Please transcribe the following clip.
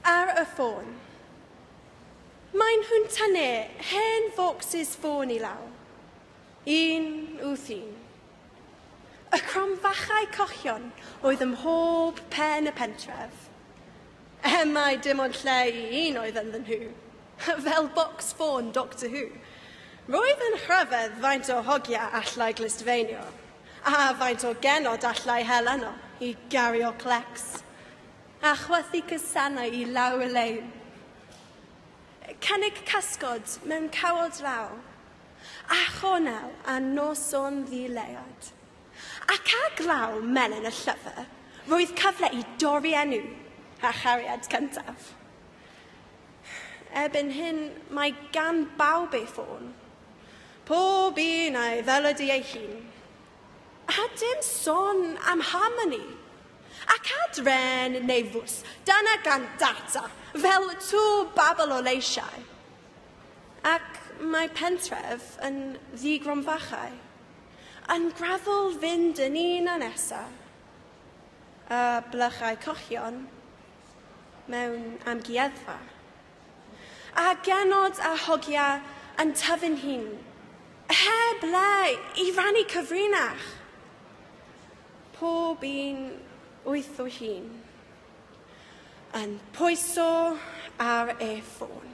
Ar y ffôn. Maen nhw'n tynnu hen focsys ffôn i law. Un wrth un. Y cromfachau cochion oedd ym mhob pen y pentref. Er mai dim ond lle i un oedd ynddyn nhw. Fel bocs ffôn Doctor Who. Roedd yn rhyfedd faint o hogia allai glustfeinio. A faint o genod allai hel arno i gario clecs a chwythu cysannau i law Elaine? Cynnig cysgod mewn cawod law, a chornel a noson ddi-leiad. Ac a glaw melyn y llyfr, roedd cyfle i dorri enw a chariad cyntaf. Erbyn hyn, mae gan bawb ei ffôn, Pob un a'i ddelydu ei hun. A dim son am harmoni. Ac adren neu fws, dyna gan data, fel tŵ babl o leisiau. Ac mae pentref yn ddi-gronfachau, yn graddol fynd yn un a nesa, a blychau cochion mewn amgueddfa. A genod a hogia yn tyfu'n hun, heb le i rannu cyfrinach. Pob un wyth o hun, yn pwyso ar ei ffôn.